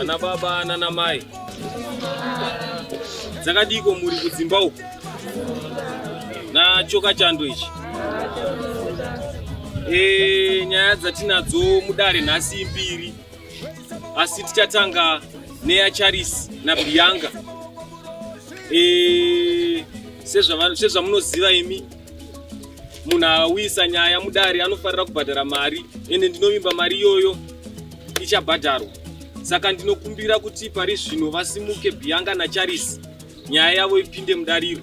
Ana baba nana mai dzakadiko muri kudzimba uku nachoka chando ichi e, nyaya dzatinadzo mudare nhasi mbiri asi tichatanga neya charisi nabianga e, sezvamunoziva imi munhu awisa nyaya mudare anofanira kubhadhara mari ende ndinovimba mari iyoyo ichabhadharwa saka ndinokumbira kuti pari zvino vasimuke bianga nacharis nyaya yavo ipinde mudariro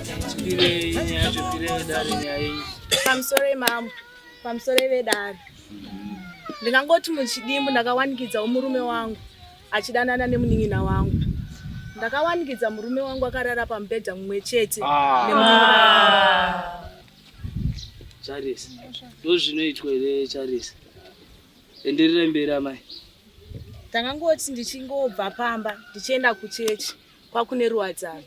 pamusoro mambo pamusoro vedare ndingangoti muchidimbu ndakawanikidzawo murume wangu achidanana nemunin'ina wangu ndakawanikidza murume wangu akarara pamubhedha mumwe chete ah. ah. charisi ndozvinoitwa here charisi enderera mberi amai ndangangoti ndichingobva pamba ndichienda kuchechi kwakune ruwadzano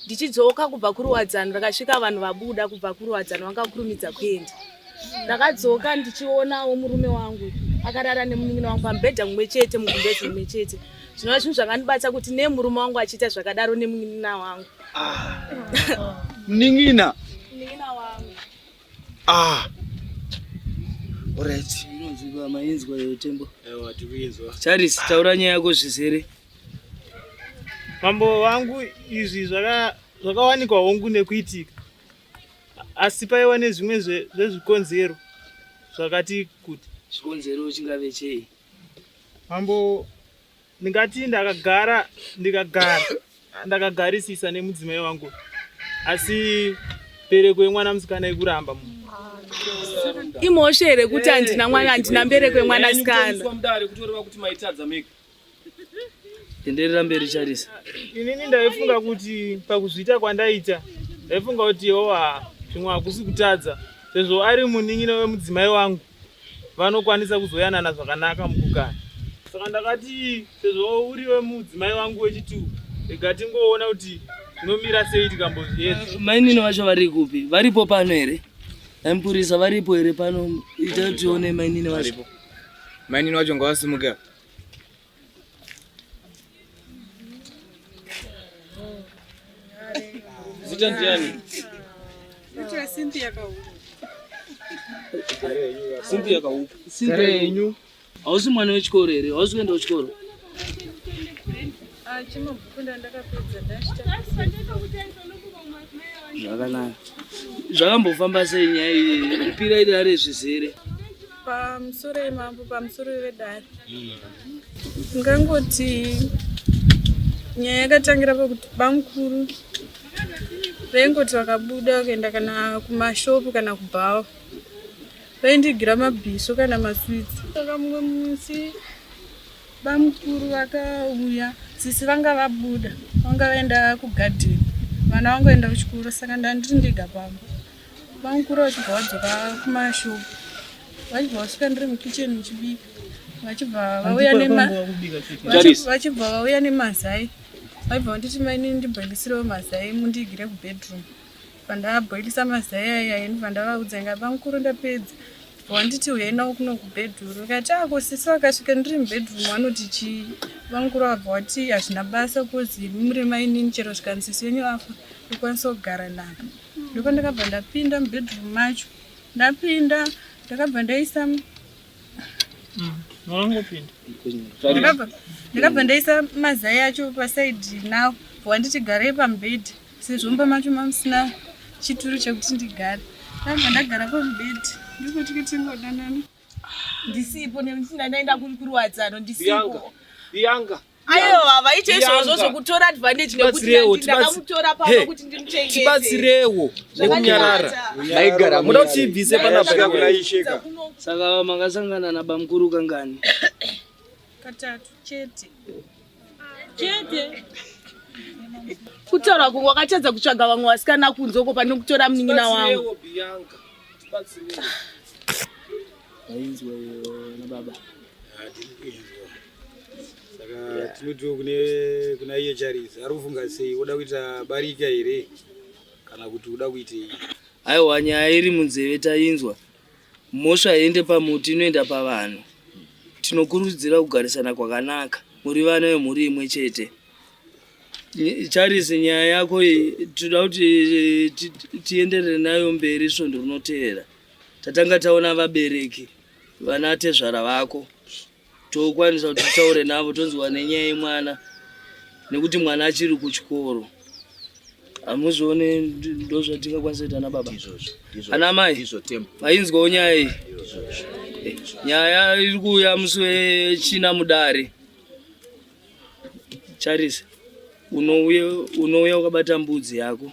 ndichidzoka kubva kuruwadzano rakasvika vanhu vabuda kubva kuruwadzano vanga kurumidza kuenda ndakadzoka ndichionawo murume wangu akarara nemunin'ina wangu pamubhedha mumwe chete mugumbezi mumwe chete zvinova zvinhu zvakandibatsa kuti nemurume wangu achiita zvakadaro nemunin'ina wangu munin'ina munin'ina wangu ah orit inonzwika mainzwa iyo tembo charis taura nyaya yako zvizere Mambo vangu izvi zvakawanikwa hongu nekuitika asi paiwa nezvimwe zvezvikonzero zvakati kuti. Chikonzero chingave chei? Mambo ndingati ndakagara ndikagara ndakagarisisa nemudzimai wangu asi mbereko yemwana musikana ikuramba mu imhosva here kuti handina mwana handina mbereko yemwana sikana tenderera mberi charisa inini ndaifunga kuti pakuzviita kwandaita ndaifunga kuti oa zvimwe hakusi kutadza sezvo ari munin'ina wemudzimai wangu vanokwanisa kuzoyanana zvakanaka mukugara saka ndakati sezvo uri wemudzimai wangu wechitu rega tingoona kuti zvinomira sei tikambozviedza eh, mainini vacho vari kupi varipo pano here aimupurisa varipo here pano ita tione mainini vacho mainini vacho ngavasimuke Zita ndiani? Zita Cynthia Kauku. Cynthia Kauku. Cynthia yenyu. Hausi mwana wechikoro here? Hausi kuenda kuchikoro? Ah, chimabhuku ndandakapedza ndachita. Zvakanaka. Zvakambofamba sei nyaya iyi? Ipira iri ari zvizere. pamusoro yemambo pamusoro yedare ndingangoti nyaya yakatangira pakuti bamukuru vaingoti vakabuda vakaenda kana kumashopu kana kubhawa vaindigira mabhiso kana maswitsi saka mumwe musi bamukuru vakauya sisi vanga vabuda vanga vaenda kugadheni vana vangoenda kuchikoro saka ndandiri ndega pamba Bamukuru vachibva vadzoka kumashow vachibva vasvika ndiri mukitchen muchibika vachibva vauya nema Charisi. vachibva vauya nemazai vaibva vanditi maini ndibhoilisirewo mazai mundiigire kubedroom pandabhoilisa mazai aya ini pandavaudza inga bamukuru ndapedza wanditi uyai nawo kuno kubedroom ndikati ako sisi vakasvika ndiri mubedroom vanoti chii bamukuru vabva wati hazvina basa kozi muri mainini chero zvikanzi sisi wenyu afa ndokwanisa kugara navo ndiko ndakabva ndapinda mubedroom macho ndapinda ndakabva ndaisa ndakabva ndaisa mazai acho pasaidi now wanditi garei pamubhedhi sezvo mba macho mamusina chituru chekuti ndigare ndabva ndagara pamubhedhi ndikuti kutingodanana ndisipo nekuti ndandaenda kuri kuruwadzano ndisipo bianga ayo havaite izvozvo zvokutora advantage nekuti ndakamutora pano kuti ndimuchengete tibatsirewo nekunyarara maigara muda kuti ibvise panapa kuraisheka saka makasangana nabamkuru kangani katatu chete chete kutaura kunge wakatadza kutsvaga vamwe vasikana kunze uko pane kutora munin'ina wangu tinotiwo kune kuna iye charizi ari kufunga sei woda kuita barika here kana kuti uda kuitei aiwa nyaya iri munzeve tainzwa Mhosva haiende pamuti inoenda pavanhu. Tinokurudzira kugarisana kwakanaka muri vana vemhuri imwe chete. Charles, nyaya yako iyi tinoda kuti eh, tienderere nayo mberi svondo rinoteera. Tatanga taona vabereki vana tezvara vako. tokwanisa kuti titaure navo tonzwa nenyaya yemwana nekuti mwana achiri kuchikoro hamuzione ndozvatingakwanisa kuita ana baba ana mai ainzwawo nyaya iyi eh, nyaya iri kuuya musi wechina mudare charisa unouya ukabata mbudzi yako